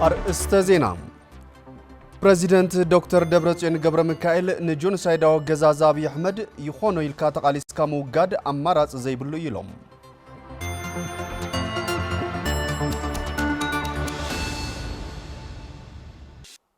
ኣርእስተ ዜና፣ ፕረዚደንት ዶክተር ደብረጽዮን ገብረሚካኤል ንጆኖሳይዳዊ ኣገዛዝ ኣብዪ ኣሕመድ ይኾኖ ኢልካ ተቓሊስካ ምውጋድ ኣማራጺ ዘይብሉ እዩ ኢሎም።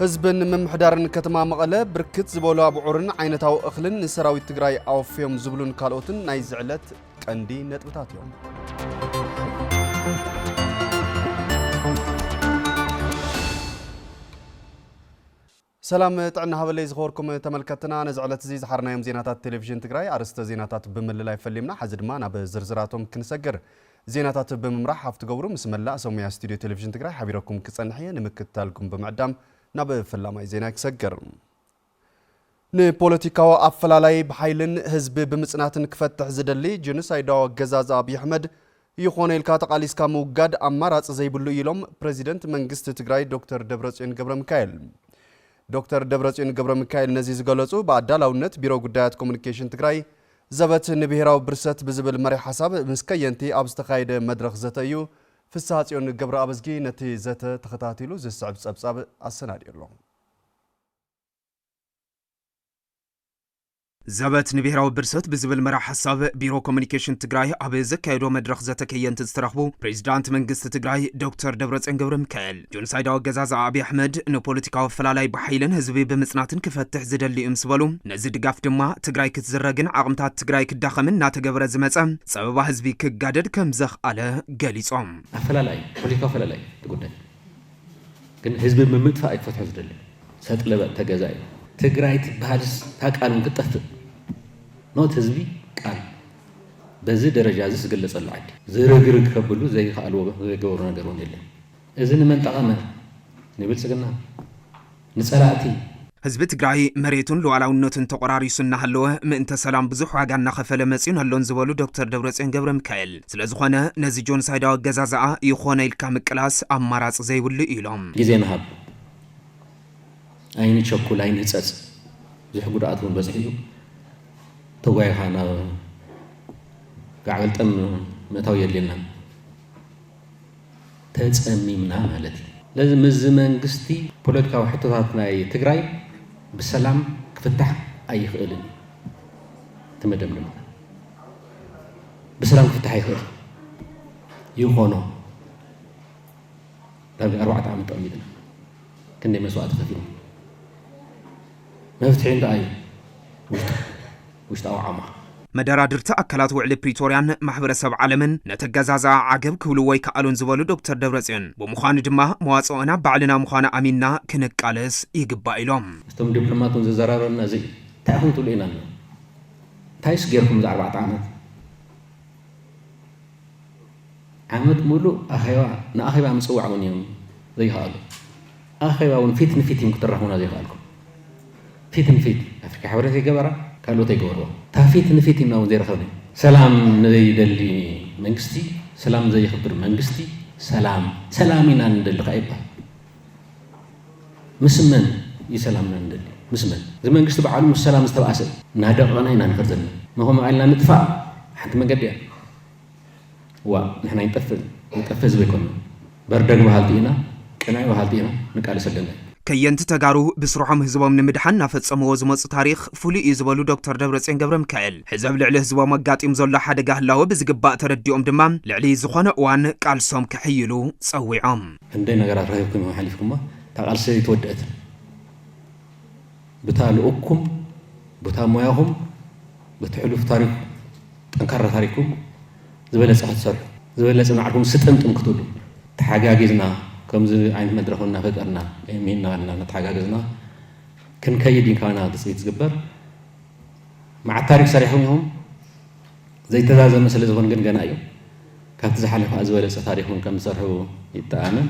ህዝብን ምምሕዳርን ከተማ መቐለ ብርክት ዝበሉ ኣብዑርን ዓይነታዊ እኽልን ንሰራዊት ትግራይ ኣወፍዮም ዝብሉን ካልኦትን ናይ ዝዕለት ቀንዲ ነጥብታት እዮም። ሰላም ጥዕና ሃበለይ ዝኸበርኩም ተመልከትና ነዚ ዕለት እዚ ዝሓርናዮም ዜናታት ቴሌቪዥን ትግራይ ኣርስተ ዜናታት ብምልላይ ፈሊምና ሓዚ ድማ ናብ ዝርዝራቶም ክንሰግር ዜናታት ብምምራሕ ሃፍቲ ገብሩ ምስ መላእ ሰሙያ ስቱድዮ ቴሌቪዥን ትግራይ ሓቢረኩም ክጸንሕ እየ ንምክትታልኩም ብምዕዳም ናብ ፈላማይ ዜና ክሰግር ንፖለቲካዊ ኣፈላላይ ብሓይልን ህዝቢ ብምጽናትን ክፈትሕ ዝደሊ ጀኖሳይዳዊ ኣገዛዝ ኣብዪ ኣሕመድ ይኾነ ኢልካ ተቓሊስካ ምውጋድ ኣማራፂ ዘይብሉ እዩ ኢሎም ፕረዚደንት መንግስቲ ትግራይ ዶክተር ደብረፅዮን ገብረሚካኤል። ዶክተር ደብረፅዮን ገብረሚካኤል ነዚ ዝገለፁ ብኣዳላውነት ቢሮ ጉዳያት ኮሙኒኬሽን ትግራይ ዘበት ንብሄራዊ ብርሰት ብዝብል መሪሕ ሓሳብ ምስ ከየንቲ ኣብ ዝተኻየደ መድረኽ ዘተ እዩ። ፍስሃፅዮን ገብረኣብዝጊ ነቲ ዘተ ተኸታቲሉ ዝስዕብ ፀብፃብ ኣሰናዲኡ ኣሎ። ዘበት ንብሄራዊ ብርሰት ብዝብል መራሕ ሓሳብ ቢሮ ኮሙኒኬሽን ትግራይ ኣብ ዘካየዶ መድረኽ ዘተ ከየንቲ ዝተረኽቡ ፕሬዚዳንት መንግስቲ ትግራይ ዶክተር ደብረፅዮን ገብረሚካኤል ጆኖሳይዳዊ ኣገዛዝኣ ኣብይ ኣሕመድ ንፖለቲካዊ ኣፈላላይ ብሓይልን ህዝቢ ብምፅናትን ክፈትሕ ዝደሊ እዩ ምስ በሉ ነዚ ድጋፍ ድማ ትግራይ ክትዝረግን ዓቕምታት ትግራይ ክዳኸምን እናተገበረ ዝመፀ ፀበባ ህዝቢ ክጋደድ ከምዘኽኣለ ገሊፆም። ኣፈላላይ፣ ፖለቲካዊ ኣፈላላይ እቲ ጉዳይ። ግን ህዝቢ ምምጥፋእ እዩ ክፈትሖ ዝደሊ ሰጥ ለበጥ ተገዛ እዩ ትግራይ ትበሃልስ እታ ቃል እውን ክትጠፍእ ኖት ህዝቢ ቃል በዚ ደረጃ እዚ ዝግለጸሉ ዓዲ ዝርግርግ ከብሉ ዘይከኣልዎ ዘይገበሩ ነገር እውን የለን እዚ ንመን ጠቐመ ንብልጽግና ንፀላእቲ። ህዝቢ ትግራይ መሬቱን ሉኣላውነቱን ተቖራሪሱ እናሃለወ ምእንተ ሰላም ብዙሕ ዋጋ እናኸፈለ መፂኡን ኣሎን ዝበሉ ዶክተር ደብረፅዮን ገብረሚካኤል፣ ስለዝኾነ ነዚ ጆንሳይዳዊ ኣገዛዝኣ ይኾነ ኢልካ ምቅላስ ኣማራፂ ዘይብሉ እዩ ኢሎም። ግዜ ንሃብ፣ ኣይንቸኩል፣ ኣይንህፀፅ፣ ብዙሕ ጉድኣት እውን በፂሑ እዩ። ተጓይኻ ናብ ጋዕገልጠም ምእታው የድልየናን። ተጸሚምና ማለት እዩ። ስለዚ ምስዚ መንግስቲ ፖለቲካዊ ሕቶታት ናይ ትግራይ ብሰላም ክፍታሕ ኣይኽእልን እዩ። እቲ መደምደምታ ብሰላም ክፍታሕ ኣይኽእልን ይኾኖ ዳርጋ ኣርባዕተ ዓመት ጠሚጥና ክንደይ መስዋእቲ ከፊልና መፍትሒ እንታይ እዩ ውሽጣ ውሽጣዊ ዓማኽ። መደራድርቲ ኣካላት ውዕሊ ፕሪቶርያን ማሕበረሰብ ዓለምን ነተገዛዝኣ ዓገብ ክብልዎ ኣይከኣሉን ዝበሉ ዶክተር ደብረፅዮን፣ ብምዃኑ ድማ መዋፅኦና ባዕልና ምዃኑ ኣሚንና ክንቃለስ ይግባእ ኢሎም። ምስቶም ዲፕሎማት እውን ዘዘራረብና እዚ እዩ። እንታይ ኢኹም ትብሉ ኢልና ኣለና። እንታይስ ገይርኩም እዚ ኣርባዕተ ዓመት? ዓመት ሙሉእ ኣኼባ ንኣኼባ ምጽዋዕ ውን እዮም ዘይኸኣሉ። ኣኼባ ውን ፊት ንፊት እዮም ክትራኽቡና ዘይኸኣልኩም። ፊት ንፊት ኣፍሪካ ሕብረት ኣይገበራ ካልኦት ኣይገበርዎ እታ ፊት ንፊት እዩና ውን ዘይረኸብኒ። ሰላም ንዘይደሊ መንግስቲ፣ ሰላም ንዘይኽብር መንግስቲ ሰላም ሰላም ኢና ንደሊ ከኣ ይብሃል። ምስ መን እዩ ሰላምና ንደሊ? ምስ መን? እዚ መንግስቲ በዓሉ ምስ ሰላም ዝተበኣሰ እዩ። እናደቐቕና ኢና ንኸድ ዘለና። ንኸምኡ ኢልና ንጥፋእ ሓንቲ መንገዲ እያ። እዋእ ንሕና ኣይንጠፍእን፣ ንጠፍእ ህዝቢ ኣይኮንናን። በርደግ በሃልቲ ኢና፣ ቅነ በሃልቲ ኢና፣ ንቃለስ ኣለና ኢሉ። ከየንቲ ተጋሩ ብስርሖም ህዝቦም ንምድሓን እናፈፀምዎ ዝመፁ ታሪኽ ፍሉይ እዩ ዝበሉ ዶክተር ደብረፅዮን ገብረምካኤል፣ ሕዚ ኣብ ልዕሊ ህዝቦም ኣጋጢሙ ዘሎ ሓደጋ ህላወ ብዝግባእ ተረዲኦም ድማ ልዕሊ ዝኾነ እዋን ቃልሶም ከሕይሉ ፀዊዖም። ክንደይ ነገራት ረኺብኩም ኢኹም ሓሊፍኩሞ እታ ቃልሲ ኣይተወደኣትን ብታ ልኡኩም ብታ ሞያኹም በቲ ሕሉፍ ታሪኩም ጠንካራ ታሪኩም ዝበለፀ ክትሰርሑ ዝበለፀ ናዕኩም ስጥምጥም ክትብሉ ተሓጋጊዝና ከምዚ ዓይነት መድረኽ እናፈጠርና ሚና ልና እናተሓጋገዝና ክንከይድ ኢንካና ትፅቢት ዝግበር መዓት ታሪክ ሰሪሕኩም ኢኹም ዘይተዛዘመ ስለ ዝኹን ግን ገና እዩ። ካብቲ ዝሓለፈ ከኣ ዝበለጸ ታሪኽ እውን ከም ዝሰርሑ ይተኣመን።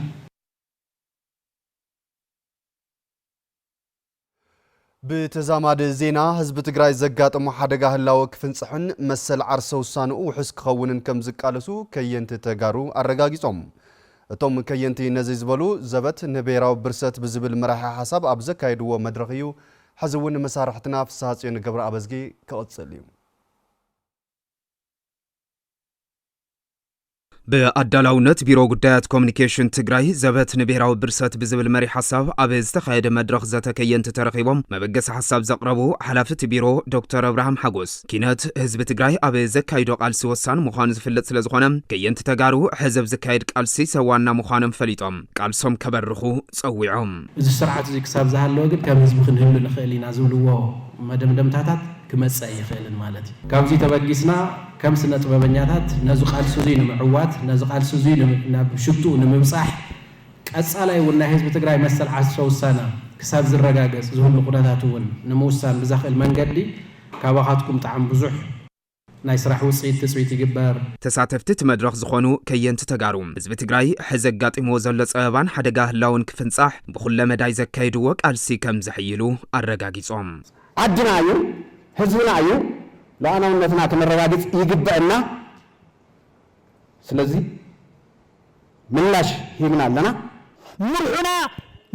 ብተዛማዲ ዜና፣ ህዝቢ ትግራይ ዘጋጠሞ ሓደጋ ህላወ ክፍንፅሕን መሰል ዓርሰ ውሳንኡ ውሑስ ክኸውንን ከም ዝቃለሱ ከየንቲ ተጋሩ ኣረጋጊፆም። እቶም ከየንቲ ነዚ ዝበሉ፣ ዘበት ንብሄራዊ ብርሰት ብዝብል መራሒ ሓሳብ ኣብ ዘካየድዎ መድረኽ እዩ። ሕዚ እውን መሳርሕትና ፍስሃፅዮን ገብረኣበዝጊ ክቕፅል እዩ። ብኣዳላውነት ቢሮ ጉዳያት ኮሚኒኬሽን ትግራይ ዘበት ንብሔራዊ ብርሰት ብዝብል መሪ ሓሳብ ኣብ ዝተኻየደ መድረኽ ዘተ ከየንቲ ተረኺቦም መበገሲ ሓሳብ ዘቕረቡ ሓላፊ እቲ ቢሮ ዶክተር ኣብርሃም ሓጎስ ኪነት ህዝቢ ትግራይ ኣብ ዘካይዶ ቃልሲ ወሳኒ ምዃኑ ዝፍለጥ ስለ ዝኾነ ከየንቲ ተጋሩ ሕዚ ኣብ ዝካየድ ቃልሲ ሰዋና ምዃኖም ፈሊጦም ቃልሶም ከበርኹ ጸዊዖም። እዚ ስርዓት እዚ ክሳብ ዝሃለወ ግን ከም ህዝቢ ክንህሉ ንኽእል ኢና ዝብልዎ መደምደምታታት ክመጽእ ኣይኽእልን ማለት እዩ። ካብዚ ተበጊስና ከም ስነጥበበኛታት ነዚ ቃልሲ'ዚ ንምዕዋት፣ ነዚ ቃልሲ'ዚ ናብ ሽትኡ ንምብጻሕ፣ ቀጻላይ እውን ናይ ህዝቢ ትግራይ መሰል ዓርሰ ውሳነ ክሳብ ዝረጋገጽ ዝህሉ ኩነታት እውን ንምውሳን ብዘኽእል መንገዲ ካባኻትኩም ጣዕም ብዙሕ ናይ ስራሕ ውጽኢት ትጽቢት ይግበር። ተሳተፍቲ እቲ መድረኽ ዝኾኑ ከየንቲ ተጋሩ፣ ህዝቢ ትግራይ ሕዚ ኣጋጢምዎ ዘሎ ጸበባን ሓደጋ ህላወን ክፍንጻሕ ብኹለ መዳይ ዘካየድዎ ቃልሲ ከም ዘሕይሉ ኣረጋጊጾም። ዓድና እዩ ህዝብና እዩ ሉኣላውነትና ክነረጋግፅ ይግበእና ስለዚ ምላሽ ሂብና ኣለና። ምርሑና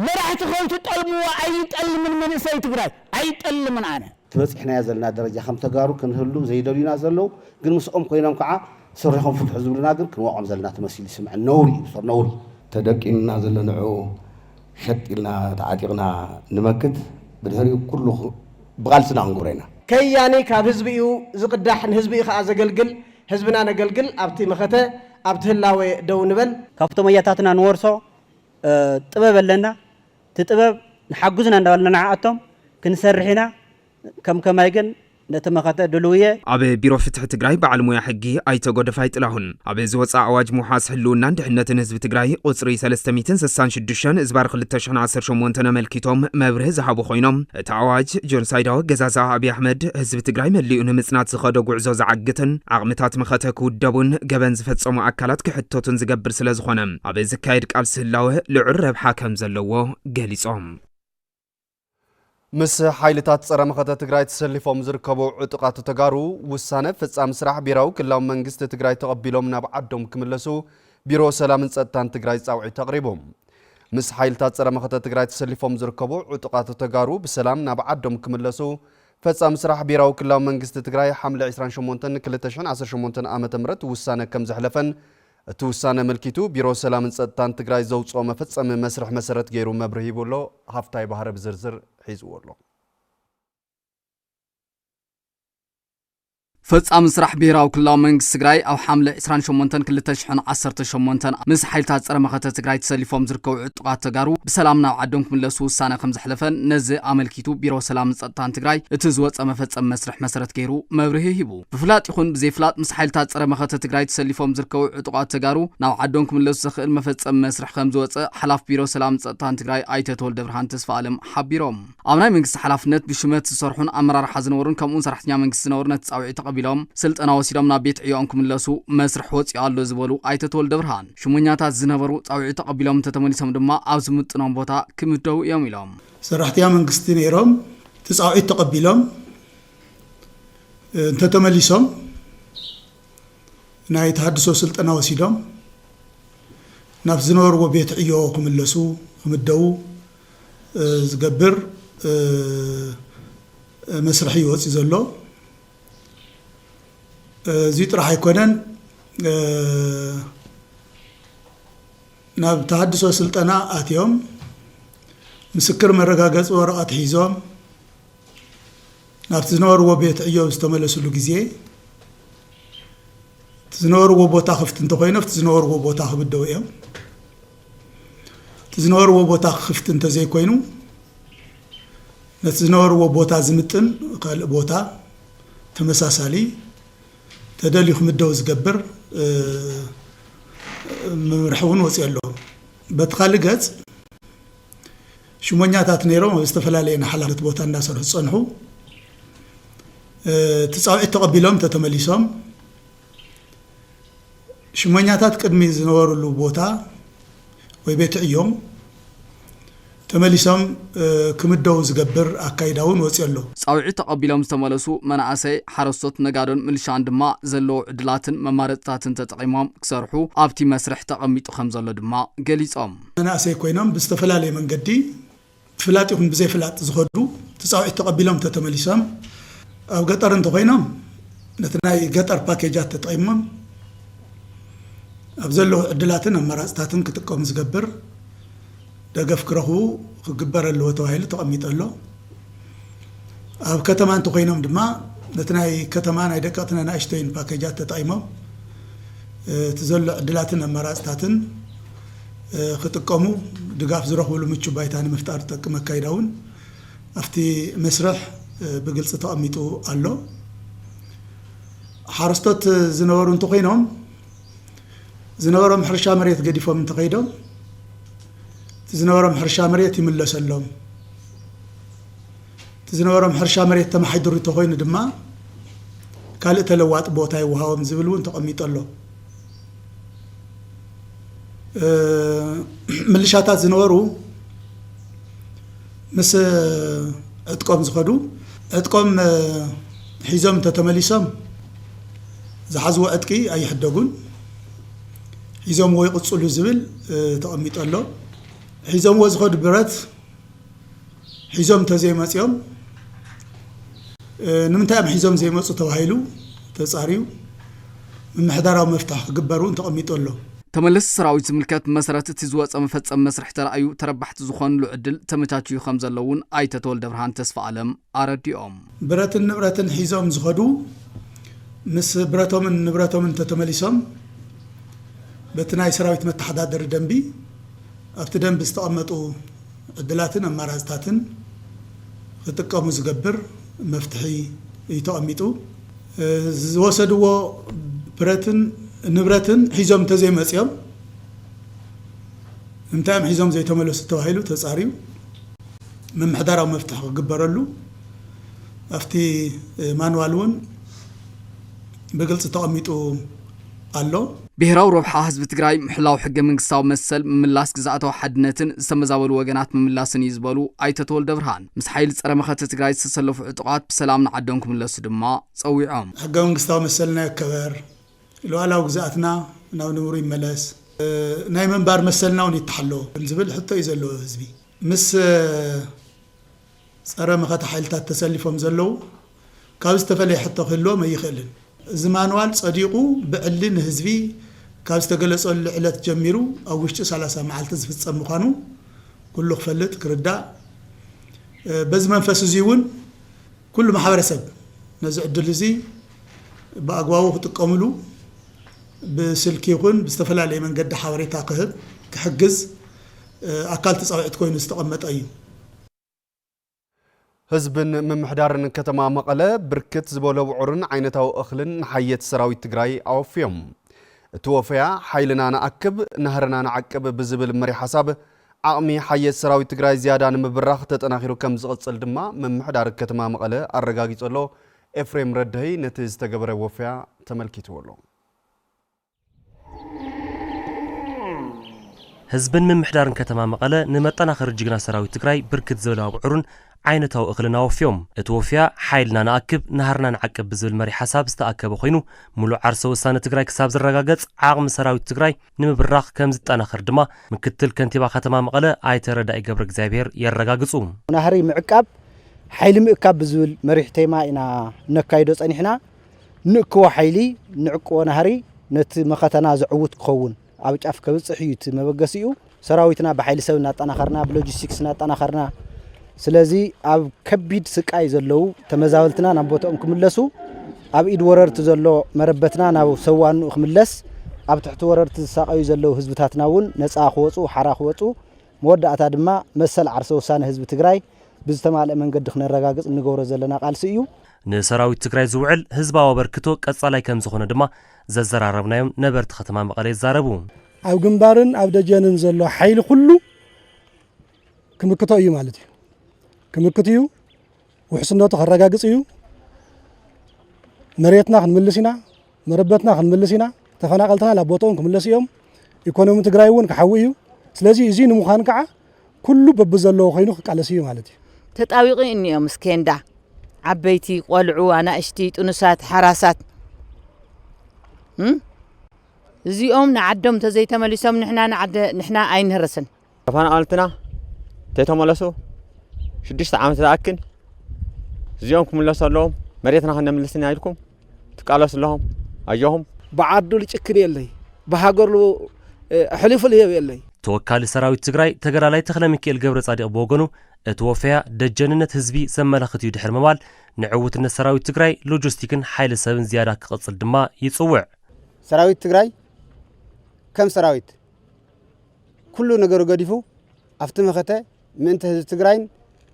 መራሕቲ ከይትጠልምዎ ኣይጠልምን መንእሰይ ትግራይ ኣይጠልምን ኣነ። እቲ በፂሕናዮ ዘለና ደረጃ ከም ተጋሩ ክንህሉ ዘይደልዩና ዘለው ግን ምስኦም ኮይኖም ከዓ ስርሕኹም ፍትሑ ዝብሉና ግን ክንወቕዖም ዘለና ተመሲሉ ይስምዐኒ ነውሪ እዩ ዶር ነውሪ። ተደቂኑና ዘሎ ንዑ ሸጥ ኢልና ተዓጢቕና ንመክት ብድሕሪኡ ኩሉ ብቓልስና ክንገብሮ ኢና። ከያኒ ካብ ህዝቢ እዩ ዝቅዳሕ ንህዝቢ እዩ ከኣ ዘገልግል ህዝብና ነገልግል ኣብቲ መኸተ ኣብቲ ህላወ ደው ንበል። ካብቶም ኣያታትና ንወርሶ ጥበብ ኣለና እቲ ጥበብ ንሓግዙና እንዳበልና ንዓኣቶም ክንሰርሕ ኢና ከም ከማይ ግን ነቲ መኸተ ድሉው እየ። ኣብ ቢሮ ፍትሒ ትግራይ በዓል ሞያ ሕጊ ኣይተ ጎደፋይ ጥላሁን ኣብ ዝወፅኣ ኣዋጅ ምውሓስ ህልውናን ድሕነትን ህዝቢ ትግራይ ቑፅሪ ሰለስተ ሚእትን ስሳን ሽዱሽተን እዝባር ክልተ ሽሕን ዓሰርተ ሸሞንተን ኣመልኪቶም መብርሂ ዝሃቡ ኮይኖም እቲ ኣዋጅ ጆንሳይዳዊ ኣገዛዝኣ ኣብይ ኣሕመድ ህዝቢ ትግራይ መሊኡ ንምፅናት ዝኸዶ ጉዕዞ ዝዓግትን ዓቕምታት መኸተ ክውደቡን ገበን ዝፈፀሙ ኣካላት ክሕተቱን ዝገብር ስለዝኾነ ኣብ ዝካየድ ቃልሲ ህላወ ልዑል ረብሓ ከምዘለዎ ገሊፆም። ምስ ሓይልታት ፀረ መኸተ ትግራይ ተሰሊፎም ዝርከቡ ዕጡቓት ተጋሩ ውሳነ ፈፃሚ ስራሕ ብሄራዊ ክልላዊ መንግስቲ ትግራይ ተቐቢሎም ናብ ዓዶም ክምለሱ ቢሮ ሰላምን ፀጥታን ትግራይ ፃውዒት ኣቕሪቡ። ምስ ሓይልታት ፀረ መኸተ ትግራይ ተሰሊፎም ዝርከቡ ዕጡቓት ተጋሩ ብሰላም ናብ ዓዶም ክምለሱ ፈፃሚ ስራሕ ብሄራዊ ክልላዊ መንግስቲ ትግራይ ሓምለ 28 2018 ዓ ም ውሳነ ከም ዘሕለፈን እቲ ውሳነ ኣመልኪቱ ቢሮ ሰላምን ፀጥታን ትግራይ ዘውፅኦ መፈፀሚ መስርሕ መሰረት ገይሩ መብርሂ ሂቡ ኣሎ። ሃፍታይ ባህረ ብዝርዝር ሒዝዎ ኣሎ። ፈፃሚ ስራሕ ብሄራዊ ክልላዊ መንግስቲ ትግራይ ኣብ ሓምለ ዕስራን ሸሞንተን ክልተ ሽሕን ዓሰርተ ሸሞንተን ምስ ሓይልታት ፀረ መኸተ ትግራይ ተሰሊፎም ዝርከቡ ዕጡቓት ተጋሩ ብሰላም ናብ ዓዶም ክምለሱ ውሳነ ከምዘሕለፈን ነዚ ኣመልኪቱ ቢሮ ሰላምን ፀጥታን ትግራይ እቲ ዝወፀ መፈፀሚ መስርሕ መሰረት ገይሩ መብርሂ ሂቡ። ብፍላጥ ይኹን ብዘይፍላጥ ምስ ሓይልታት ፀረ መኸተ ትግራይ ተሰሊፎም ዝርከቡ ዕጡቓት ተጋሩ ናብ ዓዶም ክምለሱ ዘኽእል መፈፀሚ መስርሕ ከምዝወፀ ሓላፊ ቢሮ ሰላምን ፀጥታን ትግራይ ኣይተ ተወልደብርሃን ተስፋኣለም ሓቢሮም። ኣብ ናይ መንግስቲ ሓላፍነት ብሹመት ዝሰርሑን ኣመራርሓ ዝነበሩን ከምኡውን ሰራሕተኛ መንግስቲ ዝነበሩ ነቲ ፃውዒት ተቐቢሎም ስልጠና ወሲዶም ናብ ቤት ዕዮኦም ክምለሱ መስርሕ ወፂኡ ኣሎ ዝበሉ ኣይተ ተወልደብርሃን፣ ሹመኛታት ዝነበሩ ፃውዒት ተቐቢሎም እንተተመሊሶም ድማ ኣብ ዝምጥኖም ቦታ ክምደቡ እዮም ኢሎም። ሰራሕተኛ መንግስቲ ነይሮም እቲ ፃውዒት ተቐቢሎም እንተ ተመሊሶም ናይ ተሃድሶ ስልጠና ወሲዶም ናብ ዝነበርዎ ቤት ዕዮ ክምለሱ፣ ክምደቡ፣ ዝገብር መስርሕ እዩ ወጺኡ ዘሎ። እዙይ ጥራሕ ኣይኮነን ናብ ተሃድሶ ስልጠና ኣትዮም ምስክር መረጋገጺ ወረቐት ሒዞም፣ ናብቲ ዝነበርዎ ቤት ዕዮ ዝተመለስሉ ግዜ እቲ ዝነበርዎ ቦታ ክፍቲ እንተኮይኑ ኣብቲ ዝነበርዎ ቦታ ክብደው እዮም እቲ ዝነበርዎ ቦታ ክፍቲ እንተዘይኮይኑ ነቲ ዝነበርዎ ቦታ ዝምጥን ካልእ ቦታ ተመሳሳሊ ተደልዩ ክምደው ዝገብር መምርሒ እውን ወፅኦ ኣሎ በቲ ካልእ ገፅ ሽሞኛታት ነይሮም ኣብ ዝተፈላለየ ንሓላፍነት ቦታ እንዳሰርሑ ዝፀንሑ እቲ ፃውዒት ተቐቢሎም ተተመሊሶም ሽሞኛታት ቅድሚ ዝነበርሉ ቦታ ወይ ቤት ዕዮም ተመሊሶም ክምደቡ ዝገብር ኣካይዳ እውን ወፅዮ ኣሎ። ፃውዒት ተቐቢሎም ዝተመለሱ መናእሰይ፣ ሓረስቶት፣ ነጋዶን ምልሻን ድማ ዘለዎ ዕድላትን መማረፅታትን ተጠቒሞም ክሰርሑ ኣብቲ መስርሕ ተቐሚጡ ከምዘሎ ድማ ገሊፆም። መናእሰይ ኮይኖም ብዝተፈላለየ መንገዲ ብፍላጥ ይኹን ብዘይ ፍላጥ ዝኸዱ ትፃውዒት ተቐቢሎም ተተመሊሶም ኣብ ገጠር እንተኾይኖም ነቲ ናይ ገጠር ፓኬጃት ተጠቒሞም ኣብ ዘለዉ ዕድላትን ኣማራፅታትን ክጥቀሙ ዝገብር ደገፍ ክረኽቡ ክግበር ኣለዎ ተባሂሉ ተቐሚጡ ኣሎ። ኣብ ከተማ እንተኾይኖም ድማ ነቲ ናይ ከተማ ናይ ደቀቕትን ኣናእሽተይን ፓኬጃት ተጠቒሞም እቲ ዘሎ ዕድላትን ኣማራፅታትን ክጥቀሙ ድጋፍ ዝረኽብሉ ምቹው ባይታ ንምፍጣር ዝጠቅም ኣካይዳ እውን ኣብቲ መስርሕ ብግልፂ ተቐሚጡ ኣሎ። ሓረስቶት ዝነበሩ እንተኾይኖም ዝነበሮም ሕርሻ መሬት ገዲፎም እንተኸይዶም እቲ ዝነበሮም ሕርሻ መሬት ይምለሰሎም እቲ ዝነበሮም ሕርሻ መሬት ተማሓድሩ እንተኮይኑ ድማ ካልእ ተለዋጢ ቦታ ይወሃቦም ዝብል እውን ተቐሚጦ ኣሎ ምልሻታት ዝነበሩ ምስ ዕጥቆም ዝኸዱ፣ ዕጥቆም ሒዞም እንተተመሊሶም ዝሓዝዎ ዕጥቂ ኣይሕደጉን፣ ሒዞምዎ ይቕፅሉ ዝብል ተቐሚጡ ኣሎ። ሒዞምዎ ዝኸዱ ብረት ሒዞም እንተዘይመፂኦም ንምንታይ እዮም ሒዞም ዘይመፁ ተባሂሉ ተፃርዩ፣ ምምሕዳራዊ መፍትሒ ክግበር እውን ተቐሚጡ ኣሎ። ተመለስቲ ሰራዊት ዝምልከት ብመሰረት እቲ ዝወፀ መፈፀሚ መስርሕ ተራእዩ ተረባሕቲ ዝኾንሉ ዕድል ተመቻችዩ ከምዘሎ እውን ኣይተ ተወልደብርሃን ተስፋኣለም ኣረዲኦም። ብረትን ንብረትን ሒዞም ዝኸዱ ምስ ብረቶምን ንብረቶምን እንተተመሊሶም በቲ ናይ ሰራዊት መተሓዳደሪ ደንቢ ኣብቲ ደንቢ ዝተቐመጡ ዕድላትን ኣማራፅታትን ክጥቀሙ ዝገብር መፍትሒ እዩ ተቐሚጡ። ዝወሰድዎ ብረትን ንብረትን ሒዞም እንተዘይመፅዮም እንታይ እዮም ሒዞም ዘይተመለሱ ተባሂሉ ተፃርዩ ምምሕዳራዊ መፍትሒ ክግበረሉ ኣብቲ ማንዋል እውን ብግልፂ ተቐሚጡ ኣሎ። ብሄራዊ ረብሓ ህዝቢ ትግራይ ምሕላው ሕገ መንግስታዊ መሰል፣ ምምላስ ግዝኣታዊ ሓድነትን ዝተመዛበሉ ወገናት ምምላስን እዩ ዝበሉ ኣይተ ተወልደብርሃን፣ ምስ ሓይሊ ፀረ መኸተ ትግራይ ዝተሰለፉ ዕጡቓት ብሰላም ንዓዶም ክምለሱ ድማ ፀዊዖም። ሕገ መንግስታዊ መሰልና ይከበር፣ ሉኣላዊ ግዝኣትና ናብ ንቡሩ ይመለስ፣ ናይ ምንባር መሰልና እውን ይተሓሎ ዝብል ሕቶ እዩ ዘለዎ ህዝቢ ምስ። ጸረ መኸተ ሓይልታት ተሰሊፎም ዘለዉ ካብ ዝተፈለየ ሕቶ ክህልዎም ኣይኽእልን። እዚ ማንዋል ጸዲቑ ብዕሊ ንህዝቢ ካብ ዝተገለጸሉ ዕለት ጀሚሩ ኣብ ውሽጢ ሰላሳ መዓልቲ ዝፍጸም ምዃኑ ኩሉ ክፈልጥ ክርዳእ በዚ መንፈስ እዚ እውን ኩሉ ማሕበረሰብ ነዚ ዕድል እዚ ብኣግባቡ ክጥቀምሉ ብስልኪ ይኹን ብዝተፈላለየ መንገዲ ሓበሬታ ክህብ ክሕግዝ ኣካል እቲ ጻውዒት ኮይኑ ዝተቐመጠ እዩ። ህዝብን ምምሕዳርን ከተማ መቐለ ብርክት ዝበሎ ውዑርን ዓይነታዊ እኽልን ንሓየት ሰራዊት ትግራይ ኣወፍዮም። እቲ ወፈያ ሓይልና ንኣክብ፣ ናህርና ንዓቅብ ብዝብል መሪሕ ሓሳብ ዓቕሚ ሓየት ሰራዊት ትግራይ ዝያዳ ንምብራኽ ተጠናኺሩ ከም ዝቕፅል ድማ ምምሕዳር ከተማ መቐለ ኣረጋጊፆ ኣሎ። ኤፍሬም ረድሀይ ነቲ ዝተገበረ ወፈያ ተመልኪትዎ ኣሎ። ህዝብን ምምሕዳርን ከተማ መቐለ ንመጠናኸሪ ጅግና ሰራዊት ትግራይ ብርክት ዝበለ ኣብዑርን ዓይነታዊ እኽልን ኣወፍዮም። እቲ ወፍያ ሓይልና ንኣክብ፣ ናህርና ንዓቅብ ብዝብል መሪሕ ሓሳብ ዝተኣከበ ኮይኑ ሙሉእ ዓርሰ ውሳነ ትግራይ ክሳብ ዝረጋገፅ ዓቕሚ ሰራዊት ትግራይ ንምብራኽ ከምዝጠናኸር ድማ ምክትል ከንቲባ ከተማ መቐለ ኣይተ ረዳኢ ገብረእግዚኣብሄር የረጋግፁ። ናህሪ ምዕቃብ፣ ሓይሊ ምእካብ ብዝብል መሪሕ ቴማ ኢና እነካይዶ ፀኒሕና። ንእክቦ ሓይሊ፣ ንዕቅቦ ናህሪ፣ ነቲ መኸተና ዘዕውት ክኸውን ኣብ ጫፍ ከብጽሕ እዩ እቲ መበገሲኡ። ሰራዊትና ብሓይሊ ሰብ እናጠናኸርና፣ ብሎጂስቲክስ እናጠናኸርና፣ ስለዚ ኣብ ከቢድ ስቃይ ዘለዉ ተመዛበልትና ናብ ቦትኦም ክምለሱ፣ ኣብ ኢድ ወረርቲ ዘሎ መረበትና ናብ ሰብ ዋንኡ ክምለስ፣ ኣብ ትሕቲ ወረርቲ ዝሳቐዩ ዘለዉ ህዝብታትና እውን ነጻ ክወጹ፣ ሓራ ክወጹ፣ መወዳእታ ድማ መሰል ዓርሰ ውሳነ ህዝቢ ትግራይ ብዝተማልእ መንገዲ ክነረጋግፅ እንገብሮ ዘለና ቃልሲ እዩ። ንሰራዊት ትግራይ ዝውዕል ህዝባዊ ኣበርክቶ ቀፃላይ ከምዝኾነ ድማ ዘዘራረብናዮም ነበርቲ ከተማ መቐለ ይዛረቡ። ኣብ ግንባርን ኣብ ደጀንን ዘሎ ሓይሊ ኩሉ ክምክቶ እዩ ማለት እዩ። ክምክት እዩ፣ ውሕስነቱ ከረጋግፅ እዩ፣ መሬትና ክንምልስ ኢና፣ መረበትና ክንምልስ ኢና፣ ተፈናቐልትና ናብ ቦትኦም ክምለሱ እዮም፣ ኢኮኖሚ ትግራይ እውን ክሓዊ እዩ። ስለዚ እዙይ ንምዃን ከዓ ኩሉ በብዘለዎ ኮይኑ ክቃለስ እዩ ማለት እዩ። ተጣዊቒ እኒኦ ምስ ኬንዳ ዓበይቲ፣ ቆልዑ፣ ኣናእሽቲ፣ ጥኑሳት፣ ሓራሳት እም እዚኦም ንዓዶም እንተዘይተመሊሶም ንሕና ንዓደ ንሕና ኣይንህርስን። ተፈናቐልትና ተይተመለሱ ሽዱሽተ ዓመት ዝኣክል እዚኦም ክምለሱ ኣለዎም መሬትና ከነምልስና ኢልኩም ትቃለሱ ኣለኹም ኣጆኹም ብዓዱ ልጭክን የለይ ብሃገሩ ኣሕሊፉ ልህብ የለይ ተወካሊ ሰራዊት ትግራይ ተጋዳላይ ተኽለሚኪኤል ገብረጻዲቕ ብወገኑ እቲ ወፈያ ደጀንነት ህዝቢ ዘመላኽት እዩ ድሕሪ ምባል ንዕውትነት ሰራዊት ትግራይ ሎጂስቲክን ሓይሊ ሰብን ዝያዳ ክቕጽል ድማ ይጽውዕ። ሰራዊት ትግራይ ከም ሰራዊት ኩሉ ነገሩ ገዲፉ ኣብቲ መኸተ ምእንተ ህዝቢ ትግራይን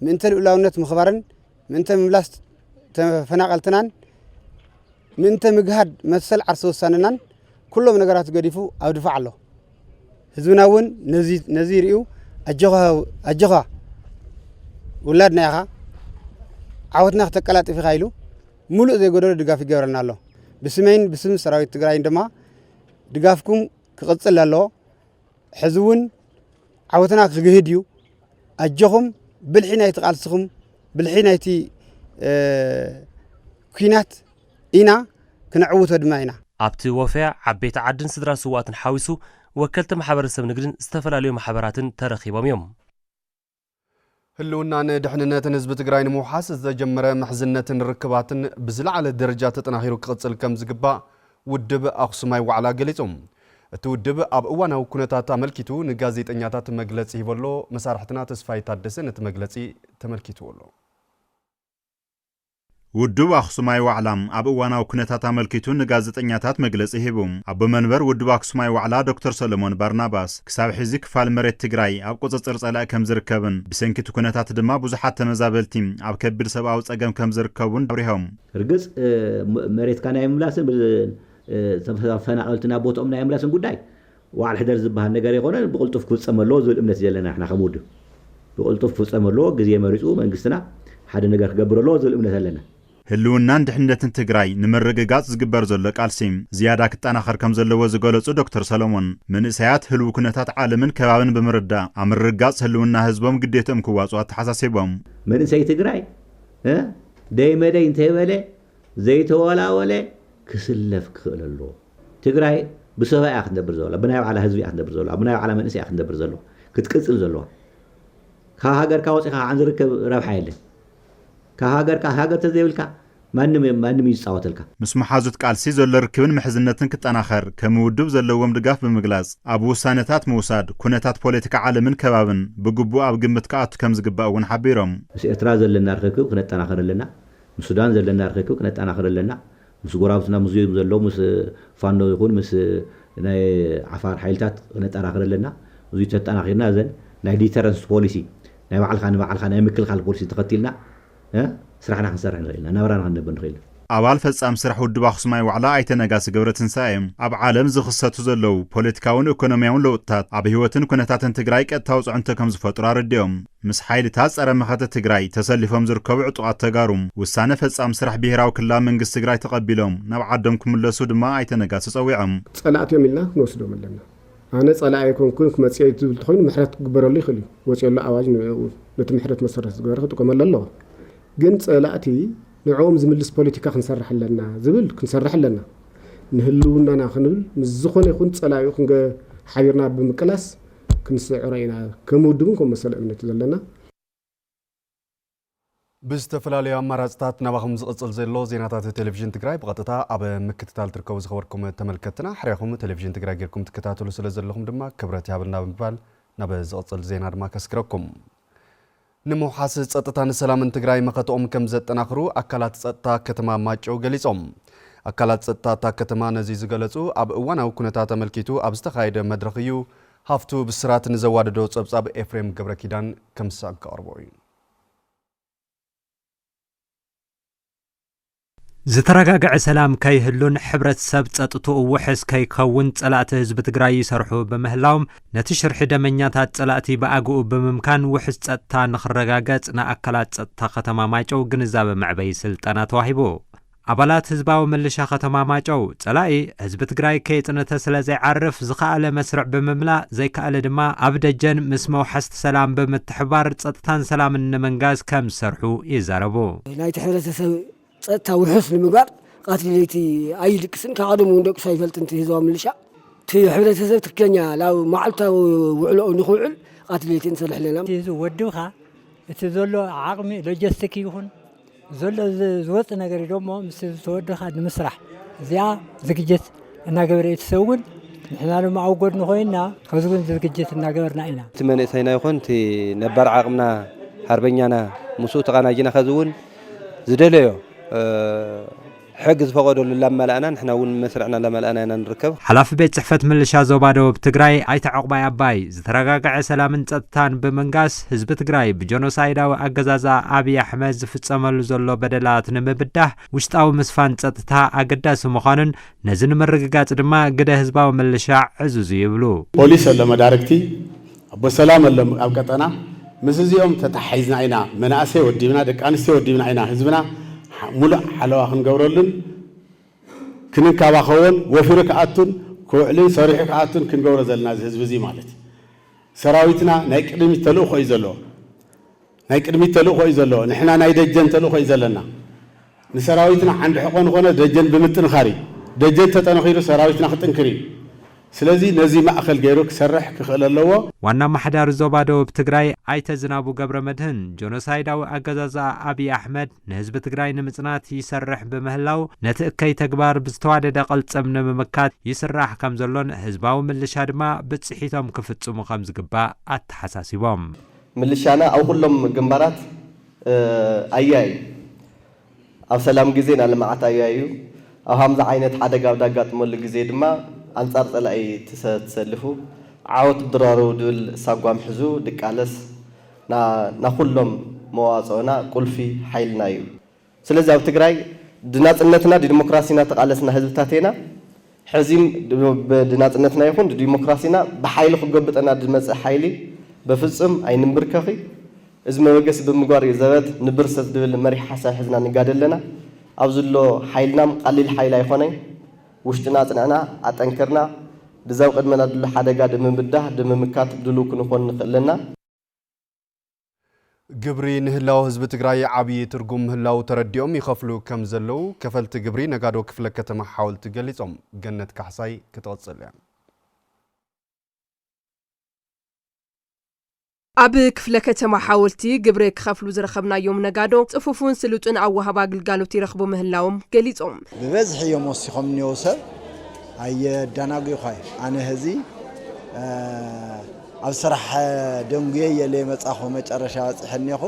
ምእንተ ልኡላውነት ምኽባርን ምእንተ ምምላስ ተፈናቐልትናን ምእንተ ምግሃድ መሰል ዓርሰ ውሳነናን ኩሎም ነገራት ገዲፉ ኣብ ድፋዕ ኣሎ ህዝብና እውን ነዚ ይርእዩ ኣጆኻ ውላድና ኢኻ ዓወትና ክተቀላጥፍ ኢኻ ኢሉ ሙሉእ ዘይጎደሎ ድጋፍ ይገብረና ኣሎ ብስመይን ብስም ሰራዊት ትግራይን ድማ ድጋፍኩም ክቕፅል ኣለዎ። ሕዚ እውን ዓወትና ክግህድ እዩ። ኣጆኹም ብልሒ ናይቲ ቃልስኹም ብልሒ ናይቲ ኩናት ኢና ክነዕውቶ ድማ ኢና። ኣብቲ ወፈያ ዓበይቲ ዓድን ስድራ ስውኣትን ሓዊሱ ወከልቲ ማሕበረሰብ ንግድን ዝተፈላለዩ ማሕበራትን ተረኺቦም እዮም። ህልውናን ድሕንነትን ህዝቢ ትግራይ ንምውሓስ ዝተጀመረ ምሕዝነትን ርክባትን ብዝለዓለ ደረጃ ተጠናኺሩ ክቕፅል ከምዝግባእ ውድብ ኣኽሱማይ ዋዕላ ገሊፁ። እቲ ውድብ ኣብ እዋናዊ ኩነታት ኣመልኪቱ ንጋዜጠኛታት መግለፂ ሂቡ ኣሎ። መሳርሕትና ተስፋይ ታደሰ ነቲ መግለፂ ተመልኪትዎ ኣሎ። ውድብ ኣኽሱማይ ዋዕላ ኣብ እዋናዊ ኩነታት ኣመልኪቱ ንጋዜጠኛታት መግለፂ ሂቡ። ኣቦ መንበር ውድብ ኣክሱማይ ዋዕላ ዶክተር ሰሎሞን ባርናባስ ክሳብ ሕዚ ክፋል መሬት ትግራይ ኣብ ቁፅፅር ፀላኢ ከምዝርከብን ብሰንኪ እቲ ኩነታት ድማ ብዙሓት ተመዛበልቲ ኣብ ከቢድ ሰብኣዊ ፀገም ከምዝርከቡን ኣብሪሆም። ርግፅ መሬትካ ናይ ምምላስን ተፈናቐልቲ ናብ ቦትኦም ናይ ምምላስን ጉዳይ ወዓል ሕደር ዝበሃል ነገር ኣይኮነን ብቕልጡፍ ክፍፀም ኣለዎ ዝብል እምነት እዩ ዘለና ንሕና ከም ውድብ። ብቕልጡፍ ክፍፀም ኣለዎ፣ ግዜ መሪፁ መንግስትና ሓደ ነገር ክገብር ኣለዎ ዝብል እምነት ኣለና። ህልውናን ድሕንነትን ትግራይ ንምርግጋፅ ዝግበር ዘሎ ቃልሲ ዝያዳ ክጠናኸር ከም ዘለዎ ዝገለፁ ዶክተር ሰሎሞን፣ መንእሰያት ህልው ኩነታት ዓለምን ከባብን ብምርዳእ ኣብ ምርግጋፅ ህልውና ህዝቦም ግዴትኦም ክዋፅኡ ኣተሓሳሲቦም። መንእሰይ ትግራይ ደይ መደይ እንተይበለ ዘይተወላወለ ክስለፍ ክኽእል ኣለዎ። ትግራይ ብሰባ እያ ክትነብር ዘላ ብናይ ባዕላ ህዝቢ እያ ክትነብር ዘለዋ ብናይ ባዕላ መንእሰይ እያ ክትነብር ዘለዋ ክትቅፅል ዘለዋ ካብ ሃገርካ ወፂኻ ከዓ ዝርከብ ረብሓ የለን ካብ ሃገርካ ሃገር ተዘይብልካ ማንም ማንም እዩ ዝፃወተልካ። ምስ መሓዙት ቃልሲ ዘሎ ርክብን ምሕዝነትን ክጠናኸር ከም ውድብ ዘለዎም ድጋፍ ብምግላፅ ኣብ ውሳነታት ምውሳድ ኩነታት ፖለቲካ ዓለምን ከባብን ብግቡእ ኣብ ግምት ክኣቱ ከም ዝግባእ እውን ሓቢሮም። ምስ ኤርትራ ዘለና ርኽክብ ክነጠናኽር ኣለና፣ ምስ ሱዳን ዘለና ርኽክብ ክነጠናኽር ኣለና፣ ምስ ጎራብትና ምስ ዝም ዘሎ ምስ ፋኖ ይኹን ምስ ናይ ዓፋር ሓይልታት ክነጠራኽር ኣለና። እዙይ ተጠናኺርና እዘን ናይ ዲተረንስ ፖሊሲ ናይ ባዕልኻ ንባዕልኻ ናይ ምክልኻል ፖሊሲ ተኸቲልና ስራሕና ክንሰርሕ ንኽእል ኢና። ናብራና ክንነብር ንኽእል ኢና። ኣባል ፈፃሚ ስራሕ ውድብ ኣክሱማይ ዋዕላ ኣይተ ነጋሲ ገብረትንሳኤ፣ ኣብ ዓለም ዝኽሰቱ ዘለዉ ፖለቲካውን ኢኮኖሚያውን ለውጥታት ኣብ ህይወትን ኩነታትን ትግራይ ቀጥታዊ ፅዕንቶ ከምዝፈጥሩ ኣረዲኦም። ምስ ሓይልታት ፀረ መኸተ ትግራይ ተሰሊፎም ዝርከቡ ዕጡቓት ተጋሩ ውሳነ ፈፃሚ ስራሕ ብሄራዊ ክልላዊ መንግስቲ ትግራይ ተቐቢሎም ናብ ዓዶም ክምለሱ ድማ ኣይተ ነጋሶ ፀዊዖም። ፀላእቲ እዮም ኢልና ክንወስዶም ኣለና። ኣነ ፀላኢ ኣይኮንኩን ክመፅእ እየ ዝብል ተኾይኑ ምሕረት ክግበረሉ ይኽእል እዩ። ወፂኦሎ ኣዋጅ ንዕኡ ነቲ ምሕረት መሰረት ዝገበረ ክጥቀመሉ ኣለዎ። ግን ፀላእቲ ንዕኦም ዝምልስ ፖለቲካ ክንሰርሕ ኣለና ዝብል ክንሰርሕ ኣለና። ንህልውናና ክንብል ምስ ዝኾነ ይኹን ፀላኢኡ ክንገ ሓቢርና ብምቅላስ ክንስዕሮ ኢና ከም ውድብን ከም መሰል እምነት ዘለና። ብዝተፈላለዩ ኣማራፅታት ናባኹም ዝቕፅል ዘሎ ዜናታት ቴሌቪዥን ትግራይ ብቐጥታ ኣብ ምክትታል ትርከቡ ዝኸበርኩም ተመልከትና ሕርያኹም ቴሌቪዥን ትግራይ ጌርኩም ትከታተሉ ስለ ዘለኹም ድማ ክብረት ይሃበልና ብምባል ናብ ዝቕፅል ዜና ድማ ከስግረኩም ንምውሓስ ፀጥታን ሰላምን ትግራይ መኸተኦም ከምዘጠናኽሩ ኣካላት ፀጥታ ከተማ ማይጨው ገሊፆም። ኣካላት ፀጥታ እታ ከተማ ነዚ ዝገለፁ ኣብ እዋናዊ ኩነታት ኣመልኪቱ ኣብ ዝተኻየደ መድረኽ እዩ። ሃፍቱ ብስራት ንዘዋደዶ ፀብፃብ ኤፍሬም ገብረኪዳን ከምሰ ከቕርቦ እዩ። ዝተረጋገዐ ሰላም ከይህሉን ሕብረት ሰብ ጸጥትኡ ውሕስ ከይከውን ጸላእቲ ህዝቢ ትግራይ ይሰርሑ ብምህላዎም ነቲ ሽርሒ ደመኛታት ጸላእቲ ብኣግኡ ብምምካን ውሕስ ጸጥታ ንክረጋገጽ ንኣካላት ጸጥታ ከተማ ማይጨው ግንዛበ መዕበይ ስልጠና ተዋሂቡ። ኣባላት ህዝባዊ ምልሻ ከተማ ማጨው ጸላኢ ህዝቢ ትግራይ ከየጽነተ ስለ ዘይዓርፍ ዝኸኣለ መስርዕ ብምምላእ ዘይከኣለ ድማ ኣብ ደጀን ምስ መውሓስቲ ሰላም ብምትሕባር ጸጥታን ሰላምን ንምንጋስ ከም ዝሰርሑ ይዛረቡ። ናይቲ ሕብረተሰብ ፀጥታ ውሑስ ንምግባር ቃትሊ ለይቲ ኣይድቅስን ካብ ቀደሙ እውን ደቂሱ ኣይፈልጥን እቲ ህዝባዊ ምልሻ እቲ ሕብረተሰብ ትክክለኛ ናብ መዓልታዊ ውዕሎኡ ንክውዕል ቃትሊ ለይቲ ንሰርሕ ኣለና። እቲ ህዝቢ ወድብካ እቲ ዘሎ ዓቕሚ ሎጀስቲክ ይኹን ዘሎ ዝወፅ ነገር ደሞ ምስ ህዝቢ ተወድብካ ንምስራሕ እዚኣ ዝግጅት እናገበረ እዩ ትሰጉን ንሕና ድማ ኣብ ጎድኑ ኮይና ከዝጉን ዝግጅት እናገበርና ኢና። እቲ መንእሰይና ይኹን እቲ ነባር ዓቕምና ሓርበኛና ምስኡ ተቓናጂና ከዝውን ዝደለዮ ሕግ ዝፈቐደሉ እላማላእና ንሕና እውን መስርዕና እላማላእና ኢና ንርከብ። ሓላፊ ቤት ፅሕፈት ምልሻ ዞባ ደቡብ ትግራይ ኣይተ ዑቕባይ ኣባይ ዝተረጋገዐ ሰላምን ፀጥታን ብምንጋስ ህዝቢ ትግራይ ብጆኖሳይዳዊ ኣገዛዝኣ ኣብይ ኣሕመድ ዝፍፀመሉ ዘሎ በደላት ንምብዳህ ውሽጣዊ ምስፋን ፀጥታ ኣገዳሲ ምዃኑን ነዚ ንምርግጋፅ ድማ ግደ ህዝባዊ ምልሻ ዕዙዝ እዩ ይብሉ። ፖሊስ ኣሎ መዳርግቲ፣ ኣቦ ሰላም ኣሎ ኣብ ቀጠና፣ ምስ እዚኦም ተተሓሒዝና ኢና መናእሰይ ወዲብና፣ ደቂ ኣንስትዮ ወዲብና ኢና ህዝብና ሙሉእ ሓለዋ ክንገብረሉን ክንንከባኸቦን ወፊሩ ክኣቱን ክውዕልን ሰሪሑ ክኣቱን ክንገብሮ ዘለና እዚ ህዝቢ እዚ ማለት ሰራዊትና ናይ ቅድሚት ተልእኾ እዩ ዘለዎ። ናይ ቅድሚት ተልእኾ እዩ ዘሎ። ንሕና ናይ ደጀን ተልእኾ እዩ ዘለና። ንሰራዊትና ዓንዲ ሕቖ ንኾኖ ደጀን ብምጥንኻር እዩ። ደጀን ተጠንኺሩ ሰራዊትና ክጥንክር እዩ። ስለዚ ነዚ ማእኸል ገይሩ ክሰርሕ ክኽእል ኣለዎ። ዋና ኣማሓዳሪ ዞባ ደቡብ ትግራይ ኣይተ ዝናቡ ገብረመድህን፣ ጆኖሳይዳዊ ኣገዛዝኣ ኣብይ ኣሕመድ ንህዝቢ ትግራይ ንምፅናት ይሰርሕ ብምህላው ነቲ እከይ ተግባር ብዝተዋደደ ቅልፅም ንምምካት ይስራሕ ከምዘሎን ህዝባዊ ምልሻ ድማ ብፅሒቶም ክፍፅሙ ከምዝግባእ ኣተሓሳሲቦም። ምልሻና ኣብ ኩሎም ግንባራት ኣያ እዩ። ኣብ ሰላም ግዜ ናይ ልምዓት ኣያ እዩ። ኣብ ሃምዚ ዓይነት ሓደጋ ኣብ ዳጋጥመሉ ግዜ ድማ ኣንጻር ጸላኢ ትሰልፉ። ዓወት ድራሩ ድብል ሳጓም ሕዙ ድቃለስ። ና ኩሎም መዋጽኦና ቁልፊ ሓይልና እዩ። ስለዚ ኣብ ትግራይ ድናጽነትና ድዲሞክራሲና ተቓለስና ህዝብታት ኤና፣ ሕዚም ድናጽነትና ይኹን ድዲሞክራሲና ብሓይሊ ክጎብጠና ድመጽእ ሓይሊ በፍጽም ኣይንምብርከኺ፣ እዚ መበገሲ ብምግባር እዩ ዘበት ንብርሰት ድብል መሪሕ ሓሳብ ሕዝና ንጋደል ለና፣ ኣብዚ እሎ ሓይልናም ቓሊል ሓይሊ ኣይኾነይ፣ ውሽጥና ኣጽንዕና ኣጠንክርና ድዛብ ቕድመና ድሎ ሓደጋ ድምብዳህ ድምምካት ድሉው ክንኾን ንኽእል ለና። ግብሪ ንህላወ ህዝቢ ትግራይ ዓብዪ ትርጉም ምህላዉ ተረዲኦም ይኸፍሉ ከም ዘለዉ ከፈልቲ ግብሪ ነጋዶ ክፍለ ከተማ ሓወልቲ ገሊፆም። ገነት ካሕሳይ ክትቕፅል እያ። ኣብ ክፍለ ከተማ ሓወልቲ ግብሪ ክኸፍሉ ዝረኸብናዮም ነጋዶ ፅፉፉን ስሉጥን ኣወሃህባ ግልጋሎት ይረኽቡ ምህላዎም ገሊፆም። ብበዝሒ እዮም ወሲኾም እኒኦው ሰብ ኣየዳናጉዩዃይ ኣነ ህዚ ኣብ ስራሕ ደንጉየ እየ ለይመፃኹ መጨረሻ በፂሐ እኔኹ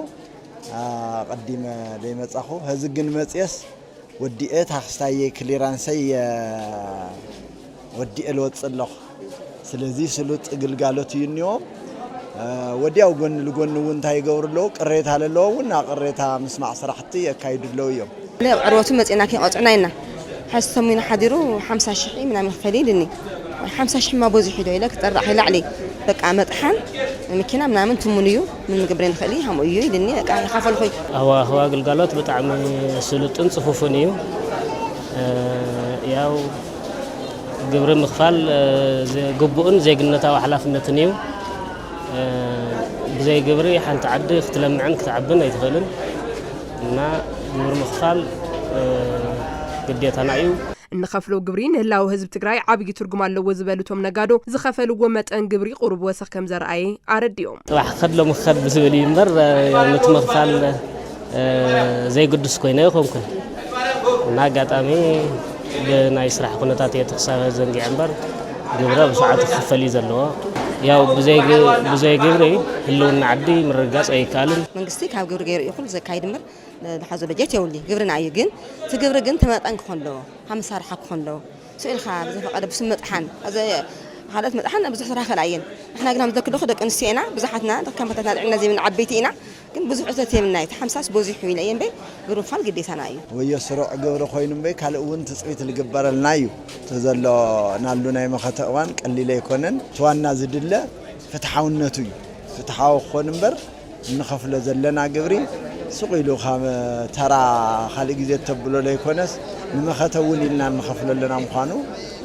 ኣቐዲመ ለይመፃኹ ሀዚ ግን መፅየስ ወዲኤ ታክስታየይ ክሊራንሰይ እየ ወዲኤ ልወፅእ ኣለኹ ስለዚ ስሉጥ ግልጋሎት እዩ እኒዎም ወዲያው ጎኒ ልጎኒ እውን እንታይ ይገብሩ ኣለዉ ቅሬታ ለለዎ እውን ቅሬታ ምስማዕ ስራሕቲ የካይዱ ኣለዉ እዮም። ናብ ዕርወቱ መጺእና ከይቐጽዑና ኢልና ሕዚ ሰሙን ሓዲሩ ሓምሳ ሽሕ ምናምን ክፈሊ ኢልኒ ሓምሳ ሽሕ እማ በዚሑ ዶ ኢለ ክጸርቕ ከይ ላዕሊ በቃ መጥሓን መኪና ምናምን ትሙን እዩ ምን ምግብሬ ንኽእል ሃምኡ እዩ ኢልኒ በቃ ይኸፈልኹይ ሃዋህዋ ግልጋሎት ብጣዕሚ ስሉጥን ጽፉፍን እዩ ያው ግብሪ ምኽፋል ግቡእን ዜግነታዊ ሓላፍነትን እዩ ብዘይ ግብሪ ሓንቲ ዓዲ ክትለምዕን ክትዓብን ኣይትኽእልን እና ግብሪ ምኽፋል ግዴታና እዩ። እንኸፍሎ ግብሪ ንህላወ ህዝቢ ትግራይ ዓብዪ ትርጉም ኣለዎ ዝበሉ እቶም ነጋዶ፣ ዝኸፈልዎ መጠን ግብሪ ቁሩብ ወሰኽ ከምዘርኣየ ኣረዲኦም። ፅባሕ ክኸድ ሎሚ ክኸድ ብዝብል እዩ እምበር ነቲ ምኽፋል ዘይግዱስ ኮይነ ኣይኾንኩን እና ኣጋጣሚ ብናይ ስራሕ ኩነታት እየ እቲ ክሳብ ዘንጊዐ እምበር ግብረ ብሰዓቱ ክኽፈል እዩ ዘለዎ። ያው ብዘይ ግብሪ ህልውና ዓዲ ምርግጋፅ ኣይከኣልን። መንግስቲ ካብ ግብሪ ገይሩ እዩ ኩሉ ዘካይድ እምበር ዝሓዞ በጀት የብሉን። ግብርና እዩ ግን እቲ ግብሪ ግን ተመጣጣኒ ክኾን ኣለዎ። ካብ መሳርሓ ክኾን ኣለዎ። ስኡ ኢልካ ብዘፈቀደ ብስም መጥሓን ካልኦት መጥሓን ብዙሕ ስራሕ ይኽእላ እየን። ንሕና ግና ምስ ደቂ ደኹ ደቂ ኣንስትዮ ኢና ብዙሓትና ከም ኣቦታትና ኣልዒልና ዘይብልና ዓበይቲ ኢና። ግን ብዙሕ እቶት የብልና እዩ እቲ ሓምሳስ ቦዚሑ ኢለ እየ እምበይ ግሩንፋል ግዴታና እዩ። ወዮ ስሩዕ ግብሪ ኮይኑ እምበይ ካልእ እውን ትፅቢት ልግበረልና እዩ እቲ ዘሎናሉ ናይ መኸተ እዋን ቀሊል ኣይኮነን እቲ ዋና ዝድለ ፍትሓውነቱ እዩ ፍትሓዊ ክኾን እምበር እንኸፍሎ ዘለና ግብሪ ሱቕ ኢሉ ከም ተራ ካልእ ግዜ እተብሎ ለይኮነስ ንመኸተ እውን ኢልና እንኸፍሎ ኣለና ምዃኑ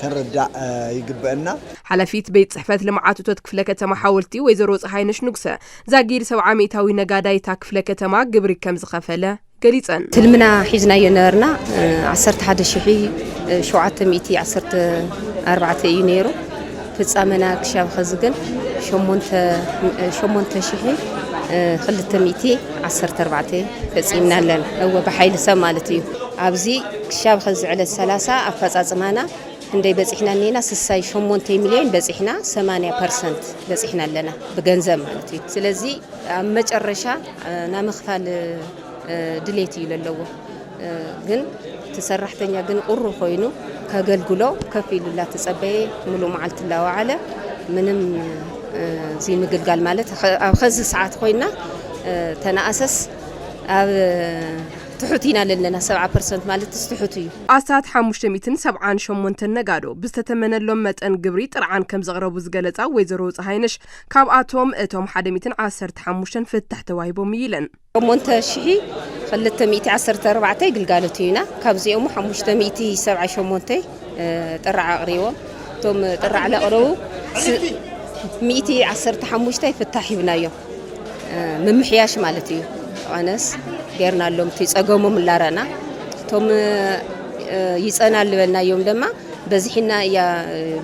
ክንርዳእ ይግበእና። ሓላፊት ቤት ፅሕፈት ልምዓት እቶት ክፍለ ከተማ ሓወልቲ ወይዘሮ ፀሃይነሽ ንጉሰ ዛጊድ ሰብዓ ሚእታዊ ነጋዳይ እታ ክፍለ ከተማ ግብሪ ከም ዝኸፈለ ገሊፀን። ትልምና ሒዝናዮ ነበርና ዓሰርተ ሓደ ሽሕ ሸውዓተ ሚእቲ ዓሰርተ ኣርባዕተ እዩ ነይሩ። ፍፃመና ክሻብ ኸዚ ግን ሸሞንተ እ፣ ሸሞንተ ሽሕ እ፣ ክልተ ሚእቲ ዓሰርተ ኣርባዕተ ፈፂምና ኣለና። እወ ብሓይሊ ሰብ ማለት እዩ። ኣብዚ ክሻብ ኸዚ ዕለት ሰላሳ ኣፈፃፅማና ክንደይ በጺሕና እኒኤና ስሳይ ሸሞንተይ ሚልዮን በጺሕና ሰማንያ ፐርሰንት በጺሕና ኣለና ብገንዘብ ማለት እዩ ስለዚ ኣብ መጨረሻ ናይ ምኽፋል ድሌት እዩ ለለዎ ግን እቲ ሰራሕተኛ ግን ቁሩ ኮይኑ ከገልግሎ ከፍ ኢሉላ ተጸበየ ሙሉእ መዓልቲ ላወዓለ ምንም እዚ ምግልጋል ማለት ኣብ ኸዚ ሰዓት ኮይና ተነኣሰስ ኣብ ትሑት ኢና ለለና ሰብዓ ፐርሰንት ማለትስ ትሑት እዩ። ኣስታት ሓሙሽተ ሚእትን ሰብዓን ሸሞንተን ነጋዶ ብዝተተመነሎም መጠን ግብሪ ጥርዓን ከምዘቕረቡ ዝገለፃ ወይዘሮ ፀሃይነሽ ካብኣቶም እቶም ሓደ ሚእትን ዓሰርተ ሓሙሽተን ፍታሕ ተዋሂቦም እዩ ኢለን። ሸሞንተ ሺሒ ክልተ ሚእቲ ዓሰርተ ኣርባዕተ ይግልጋሎት እዩና ካብዚኦሙ ሓሙሽተ ሚእቲ ሰብዓ ሸሞንተ ጥራዕ ኣቕሪቦም እቶም ጥራዕ ለቕረቡ ሚእቲ ዓሰርተ ሓሙሽተ ፍታሕ ሂብናዮም። ምምሕያሽ ማለት እዩ ኣነስ ጌርና ኣሎምቲ ጸገሞም እላረና እቶም ይጸና ልበልናዮም ደማ በዝሒና እያ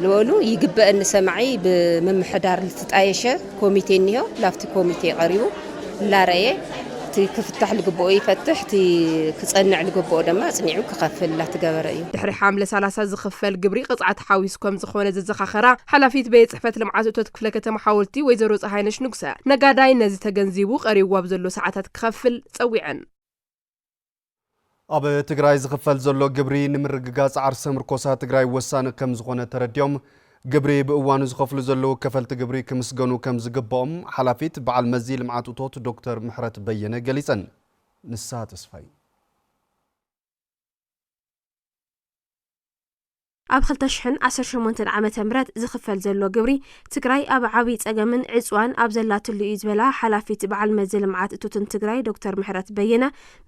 ዝበሉ ይግበአኒ ሰማዒ ብምምሕዳር ልትጣየሸ ኮሚቴ እኒሆ ላፍቲ ኮሚቴ ቀሪቡ እላረየ እቲ ክፍታሕ ልግብኦ ይፈትሕ፣ እቲ ክጸንዕ ልግብኦ ደማ ኣጽኒዑ ክኸፍል ላተገበረ እዩ። ድሕሪ ሓምለ ሰላሳ ዝኽፈል ግብሪ ቅጽዓት ሓዊሱ ከምዝኾነ ዘዘኻኸራ ሓላፊት ቤት ጽሕፈት ልምዓት እቶት ክፍለ ከተማ ሓወልቲ ወይዘሮ ጸሃይነሽ ንጉሰ፣ ነጋዳይ ነዚ ተገንዚቡ ቀሪብዎ ኣብ ዘሎ ሰዓታት ክኸፍል ጸዊዐን። ኣብ ትግራይ ዝኽፈል ዘሎ ግብሪ ንምርግጋፅ ዓርሰ ምርኮሳ ትግራይ ወሳኒ ከምዝኾነ ተረዲኦም ግብሪ ብእዋኑ ዝኸፍሉ ዘለዉ ከፈልቲ ግብሪ ክምስገኑ ከምዝግባኦም ሓላፊት በዓል መዚ ልምዓት እቶት ዶክተር ምሕረት በየነ ገሊፀን። ንስሃ ተስፋይ ኣብ ክልተ ሽሕን ዓሰርተ ሸሞንተን ዓመተ ምህረት ዝኽፈል ዘሎ ግብሪ ትግራይ ኣብ ዓብይ ፀገምን ዕፅዋን ኣብ ዘላትሉ እዩ ዝበላ ሓላፊት በዓል መዚ ልምዓት እቶትን ትግራይ ዶክተር ምሕረት በየነ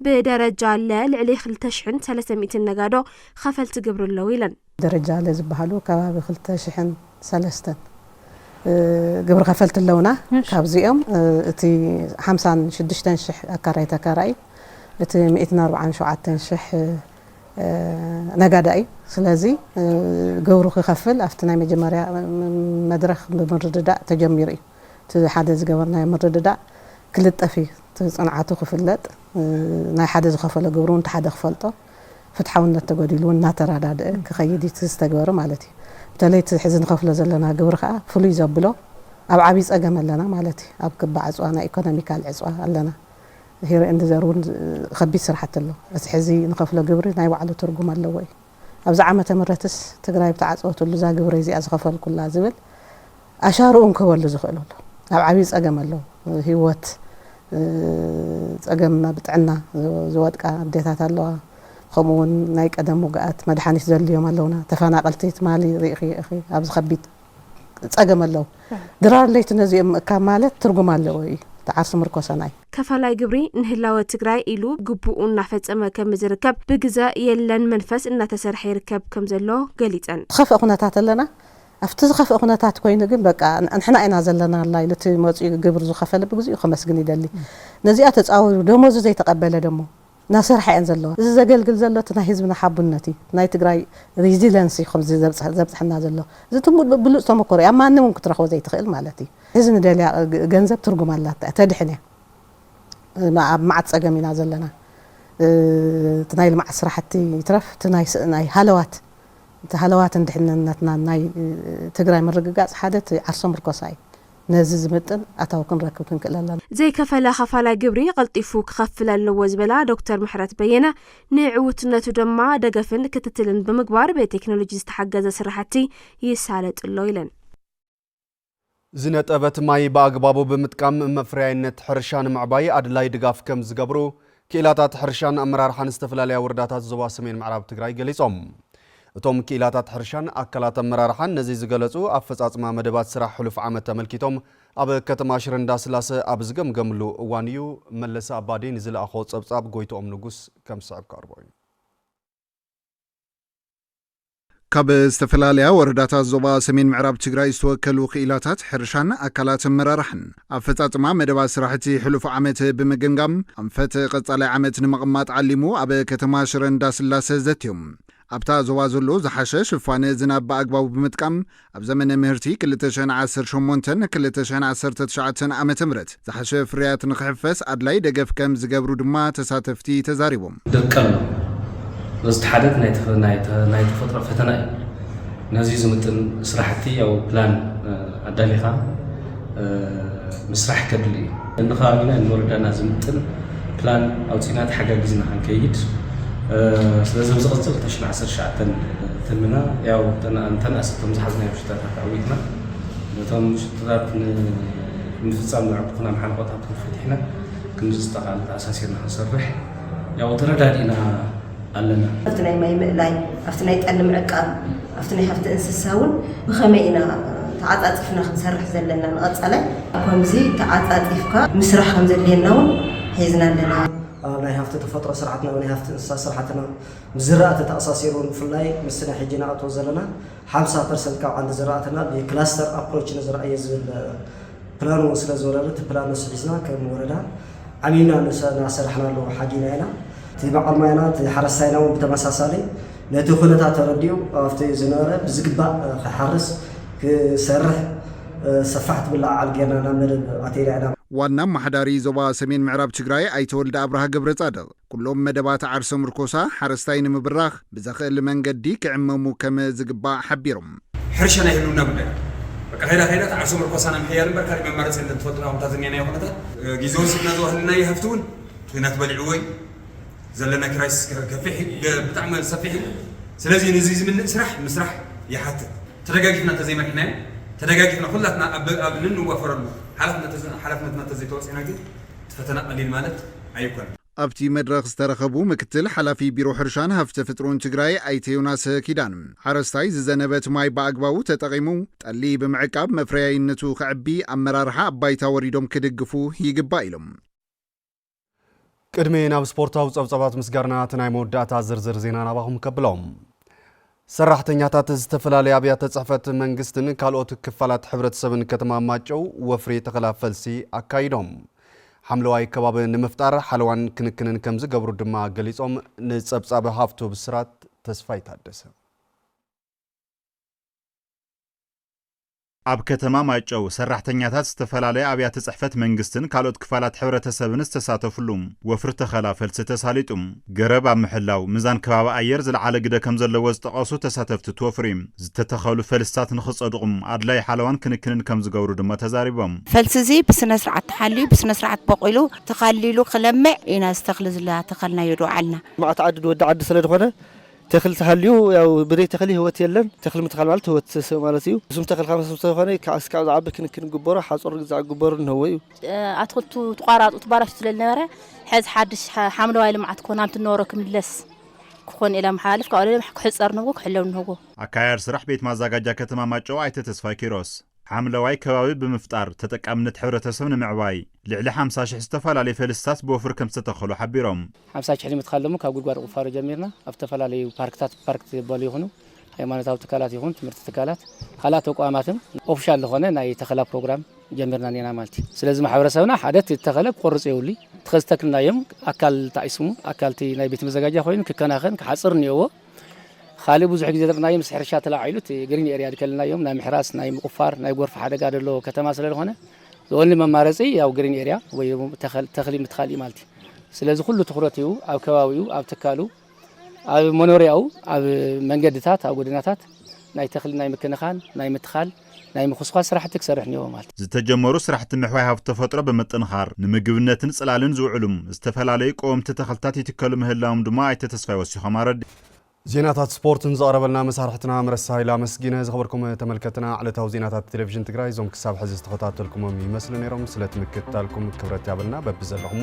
ብደረጃ ለ ልዕሊ ክልተ ሽሕን ሰለስተ ሚእትን ነጋዶ ኸፈልቲ ግብሪ ኣለው ኢለን። ደረጃ ለ ዝበሃሉ ከባቢ ክልተ ሽሕን ሰለስተን ግብሪ ኸፈልቲ ኣለውና። ካብዚኦም እቲ ሓምሳን ሽዱሽተን ሽሕ ኣካራይ ተካራኢ እቲ ሚእትን ኣርብዓን ሸውዓተን ሽሕ ነጋዳይ እዩ ስለዚ ግብሩ ክከፍል ኣብቲ ናይ መጀመርያ መድረክ ብምርድዳእ ተጀሚሩ እዩ እቲ ሓደ ዝገበርናዮ ምርድዳእ ክልጠፍ እዩ እቲ ፅንዓቱ ክፍለጥ ናይ ሓደ ዝከፈሎ ግብሪ እውን እቲ ሓደ ክፈልጦ ፍትሓውነት ተጎዲሉ እውን እናተረዳድእ ክከይድ እዩ እቲ ዝተግበረ ማለት እዩ በተለይ እቲ ሕዚ ንከፍሎ ዘለና ግብሪ ከዓ ፍሉይ ዘብሎ ኣብ ዓብይ ፀገም ኣለና ማለት እዩ ኣብ ክባ ዕፅዋ ናይ ኢኮኖሚካል ዕፅዋ ኣለና ሂረ ኤንድ ዘር እውን ኸቢድ ስራሕቲ ኣሎ። እቲ ሕዚ ንኸፍሎ ግብሪ ናይ ባዕሉ ትርጉም ኣለዎ እዩ። ኣብዚ ዓመተ ምረትስ ትግራይ ብተዓፀወትሉ እዛ ግብረይ እዚኣ ዝኸፈልኩላ ዝብል ኣሻርኡን ክህበሉ ዝኽእል ኣሎ። ኣብ ዓብይ ፀገም ኣሎ። ህይወት ፀገም ኣብ ጥዕና ዝወድቃ ኣዴታት ኣለዋ። ኸምኡ እውን ናይ ቀደም ውግኣት መድሓኒት ዘድልዮም ኣለውና። ተፈናቐልቲ ትማሊ ሪኢኽዮ ኢኺ ኣብዚ ኸቢድ። ጸገም ኣለው ድራር ለይቲ ነዚኦም ምእካብ ማለት ትርጉም ኣለዎ እዩ እቲ ዓርሱ ምርኮሰናይ። ከፋላይ ግብሪ ንህላወ ትግራይ ኢሉ ግቡኡ እናፈፀመ ከምዝርከብ ብግዘ የለን መንፈስ እናተሰርሐ ይርከብ ከምዘሎ ገሊፀን። ዝኸፍእ ኩነታት ኣለና ኣብቲ ዝኸፍእ ኩነታት ኮይኑ ግን በቃ ንሕና ኢና ዘለናላ ኢሉ እቲ መፂኡ ግብሪ ዝኸፈለ ብግዚኡ ከመስግን ይደሊ ነዚኣ ተፃዊሩ ደሞዙ ዘይተቐበለ ደሞ ናሰርሓ እየን ዘለዋ እዚ ዘገልግል ዘሎ እቲ ናይ ህዝብና ሓቡነት እዩ ናይ ትግራይ ሪዚለንስ እዩ ከምዚ ዘብፀሐና ዘሎ እዚ ትም ብሉፅ ተመኮሮ እዩ ኣብ ማንም እውን ክትረክቦ ዘይትክእል ማለት እዩ እዚ ንደልያ ገንዘብ ትርጉም ኣላታ እያ ተድሕን እያ ኣብ መዓት ፀገም ኢና ዘለና እቲ ናይ ልምዓት ስራሕቲ ይትረፍ እቲ ናይ ሃለዋት እቲ ሃለዋትን ድሕንነትና ናይ ትግራይ ምርግጋፅ ሓደ እቲ ዓርሰ ምርኮሳ እዩ ነዚ ዝምጥን ኣታዊ ክንረክብ ክንክእል ኣለና። ዘይከፈለ ኸፋላይ ግብሪ ቐልጢፉ ክኸፍል ኣለዎ ዝበላ ዶክተር ምሕረት በየነ፣ ንዕዉትነቱ ደማ ደገፍን ክትትልን ብምግባር ብቴክኖሎጂ ዝተሓገዘ ስራሕቲ ይሳለጥ'ሎ ኢለን። ዝነጠበት ማይ ብኣግባቡ ብምጥቃም መፍረያይነት ሕርሻ ንምዕባይ ኣድላዪ ድጋፍ ከምዝገብሩ ክኢላታት ሕርሻን ኣመራርሓን ዝተፈላለያ ወረዳታት ዞባ ሰሜን ምዕራብ ትግራይ ገሊፆም። እቶም ክኢላታት ሕርሻን ኣካላት ኣመራርሓን ነዚ ዝገለፁ ኣፈፃፅማ መደባት ስራሕ ሕሉፍ ዓመት ኣመልኪቶም ኣብ ከተማ ሽረ እንዳስላሰ ኣብ ዝገምገምሉ እዋን እዩ። መለሰ ኣባዲ ንዝለኣኾ ፀብፃብ ጎይትኦም ንጉስ ከምስዕብ ከቕርቦ እዩ። ካብ ዝተፈላለያ ወረዳታት ዞባ ሰሜን ምዕራብ ትግራይ ዝተወከሉ ክኢላታት ሕርሻን ኣካላት ኣመራርሓን ኣፈፃፅማ መደባት ስራሕቲ ሕሉፍ ዓመት ብምግምጋም ኣንፈት ቀፃላይ ዓመት ንምቕማጥ ዓሊሙ ኣብ ከተማ ሽረ እንዳስላሰ ዘትዮም። ኣብታ ዞባ ዘሎ ዝሓሸ ሽፋን ዝናብ ብኣግባቡ ብምጥቃም ኣብ ዘመነ ምህርቲ ክልተ ሽሕን ዓሰርተ ሸሞንተን ክልተ ሽሕን ዓሰርተ ትሽዓተን ዓመተ ምህረት ዝሓሸ ፍርያት ንኽሕፈስ ኣድላዪ ደገፍ ከም ዝገብሩ ድማ ተሳተፍቲ ተዛሪቦም። ደቀሎ በዝቲ ሓደት ናይ ተፈጥሮ ፈተና እዩ። ነዙይ ዝምጥን ስራሕቲ ያው ፕላን ኣዳሊኻ፣ ምስራሕ ከድሊ እዩ። ነንኸባቢና ንወረዳና ዝምጥን ፕላን ኣውፂእና ተሓጋጊዝና ክንከይድ ስለዚ ኣብዚ ቅፅል ተሽን ዓሰርተ ትሽዓተ ትምና ያው ተናእሲ እቶም ዝሓዝናዮም ሽታታት ኣዊትና ነቶም ሽታታት ንምፍፃም ዘዕጉትና መሓንቆታት እውን ፈቲሕና ክንዲ ዝተኻእለ ተኣሳሲርና ክንሰርሕ ያው ተረዳዲእና ኣለና። ኣብቲ ናይ ማይ ምእላይ፣ ኣብቲ ናይ ጠሊ ምዕቃብ፣ ኣብቲ ናይ ሃፍቲ እንስሳ እውን ብኸመይ ኢና ተዓፃፂፍና ክንሰርሕ ዘለና ንቐፃላይ? ኣብ ከምዚ ተዓፃፂፍካ ምስራሕ ከም ዘድልየና እውን ሒዝና ኣለና። ኣብ ናይ ሃፍቲ ተፈጥሮ ስርዓትና ኣብ ናይ ሃፍቲ እንስሳ ስራሕትና ምስ ዝራእቲ ተኣሳሲሩ ንፍላይ ምስቲ ናይ ሕጂ ንኣትዎ ዘለና ሓምሳ ፐርሰንት ካብ ዓንዲ ዝራእትና ብክላስተር ኣፕሮች ንዝርኣዮ ዝብል ፕላን እውን ስለ ዝወረደ እቲ ፕላን ንሱ ሒዝና ከም ወረዳ ዓሚምና እናሰራሕናሉ ሓዲና ኢና። እቲ በዓል ማይና እቲ ሓረስታይና እውን ብተመሳሳሊ ነቲ ኩነታት ተረዲኡ ኣብቲ ዝነበረ ብዝግባእ ክሓርስ ክሰርሕ ሰፋሕቲ ምልዕዓል ገይርና ናብ መደብ ኣቲና ኢና። ዋና ኣማሓዳሪ ዞባ ሰሜን ምዕራብ ትግራይ ኣይተ ወልደኣብርሃ ገብረፃድቕ ኩሎም መደባት ዓርሰ ምርኮሳ ሓረስታይ ንምብራኽ ብዘኽእል መንገዲ ክዕመሙ ከም ዝግባእ ሓቢሮም። ሕርሻ ናይ ህልውና ጉዳይ እዩ። በቃ ከይዳ ከይዳ እቲ ዓርሰ ምርኮሳና ምሕያል እምበር ካሊእ መማረፂ የለን ትፈልጥና እኹም እታ ዝኒሀናዮ ኩነታት። ጊዘ ወሲድና ዝወሃልናዮ ሃፍቲ እውን ኩናት በሊዕዎ እዩ። ዘለና ክራይስስ ከፊሕ እዩ ብጣዕሚ ሰፊሕ እዩ። ስለዚ ንዙይ ዝምልእ ስራሕ ምስራሕ ይሓትት። ተደጋጊፍና እንተዘይመሪሕናዮ ተደጋጊፍና ኩላትና ኣብ ኣብ ንንዋፈረሉ ሓላፍነት ሓላፍነትና እንተዘይተወፂእና ግን፣ ፈተና ቀሊል ማለት ኣይኮነን። ኣብቲ መድረኽ ዝተረኸቡ ምክትል ሓላፊ ቢሮ ሕርሻን ሃፍተፍጥሩን ትግራይ ኣይተ ዮናሰ ኪዳን፣ ሓረስታይ ዝዘነበት ማይ ብኣግባቡ ተጠቒሙ ጠሊ ብምዕቃብ መፍረያይነቱ ከዕቢ ኣመራርሓ ኣብ ባይታ ወሪዶም ክድግፉ ይግባእ ኢሎም። ቅድሚ ናብ ስፖርታዊ ጸብጻባት ምስጋርና እቲ ናይ መወዳእታ ዝርዝር ዜና ናባኹም ከብሎም። ሰራሕተኛታት ዝተፈላለያ ኣብያተ ፅሕፈት መንግስትን ካልኦት ክፋላት ሕብረተሰብን ከተማ ማጨው ወፍሪ ተኸላ ፈልሲ ኣካይዶም ሓምለዋይ ከባቢ ንምፍጣር ሓለዋን ክንክንን ከምዝገብሩ ድማ ገሊፆም። ንፀብፃብ ሃፍቱ ብስራት ተስፋይ ታደሰ ኣብ ከተማ ማይጨው ሰራሕተኛታት ዝተፈላለያ ኣብያተ ፅሕፈት መንግስትን ካልኦት ክፋላት ሕብረተሰብን ዝተሳተፍሉ ወፍሪ ተኸላ ፈልሲ ተሳሊጡ ገረብ ኣብ ምሕላው ምዛን ከባቢ ኣየር ዝለዓለ ግደ ከምዘለዎ ዝጠቐሱ ተሳተፍቲ እቲ ወፍሪ ዝተተኸሉ ፈልስታት ንክፀድቑ ኣድላዪ ሓለዋን ክንክንን ከምዝገብሩ ድማ ተዛሪቦም። ፈልሲ እዙይ ብስነስርዓት ተሓልዩ ብስነስርዓት ቦቒሉ ተኻሊሉ ክለምዕ ኢና ዝተኽሊ ዝላ ተኸልናዮ ዶ ዓልና። ልምዓት ዓዲ ንወዲ ዓዲ ስለድኾነ ተኽሊ ተሃልዩ ያው ብደይ ተኽሊ ህይወት የለን ተኽሊ ምትካል ማለት ህይወት ሰብ ማለት እዩ እሱም ተኽሊ ካብ ሰብ ተኾነ ይከዓስ ካብ ዝዓቢ ክንክን ግበሮ ሓጾር ግዛዕ ግበሩ እንህዎ እዩ። ኣትክልቱ ትቋራጡ ትባላሹ ስለ ዝነበረ ሕዚ ሓድሽ ሓምለዋይ ልምዓት ክኾን ናምቲ ዝነበሮ ክምለስ ክኾን ኢለ ኣመሓላልፍ ካብኡ ክሕጸር ንህዎ ክሕለው ንህዎ። ኣካያድ ስራሕ ቤት ማዛጋጃ ከተማ ማጨው ኣይተ ተስፋይ ኪሮስ፣ ሓምለዋይ ከባቢ ብምፍጣር ተጠቃምነት ሕብረተሰብ ንምዕባይ ልዕሊ ሓምሳ ሽሕ ዝተፈላለዩ ፈልስታት ብወፍሪ ከምዝተተኸሉ ሓቢሮም። ሓምሳ ሽሕ ንምትካል ድማ ካብ ጉድጓድ ቑፋሮ ጀሚርና ኣብ ዝተፈላለዩ ፓርክታት ፓርክ ዝበሉ ይኹኑ ሃይማኖታዊ ትካላት ይኹን ትምህርቲ ትካላት ካልኣት ተቋማትን ኦፍሻል ዝኾነ ናይ ተኸላ ፕሮግራም ጀሚርና እኔና ማለት እዩ። ስለዚ ማሕበረሰብና ሓደ እቲ ዝተኸለ ክቆርፅ የብሉይ እቲ ከዝተክልናዮም ኣካል እቲ ኣይስሙ ኣካል እቲ ናይ ቤት መዘጋጃ ኮይኑ ክከናኸን ክሓፅር እኔዎ። ኻሊእ ብዙሕ ግዜ ዘርኢናዮ ምስ ሕርሻ ተላዒሉ እቲ ግሪን ኤርያ ድከልናዮም ናይ ምሕራስ ናይ ምቁፋር ናይ ጎርፊ ሓደጋ ደለዎ ከተማ ስለዝኾነ ዝኦንሊ መማረፂ ያው ግሪን ኤርያ ወይ ተኽሊ ምትካል እዩ ማለት እዩ። ስለዚ ኩሉ ትኹረት ይህቡ ኣብ ከባቢኡ ኣብ ትካሉ ኣብ መኖሪያኡ ኣብ መንገድታት ኣብ ጎደናታት ናይ ተኽሊ ናይ ምክንኻን ናይ ምትኻል ናይ ምኹስኳስ ስራሕቲ ክሰርሕ እኒኦዎ ማለት እዩ። ዝተጀመሩ ስራሕቲ ምሕዋይ ሃፍቲ ተፈጥሮ ብምጥንኻር ንምግብነትን ፅላልን ዝውዕሉ ዝተፈላለዩ ቀወምቲ ተኽልታት ይትከሉ ምህላዎም ድማ ኣይተ ተስፋይ ወሲኾም ኣረዲኦም። ዜናታት ስፖርት ንዘቕረበልና መሳርሕትና ምረሳ ሃይለ ኣመስጊነ። ዝኸበርኩም ተመልከትና ዕለታዊ ዜናታት ቴሌቪዥን ትግራይ እዞም ክሳብ ሕዚ ዝተኸታተልኩሞም ይመስሉ ነይሮም። ስለቲ ምክትታልኩም ክብረት ያብልና በብዘለኹሞ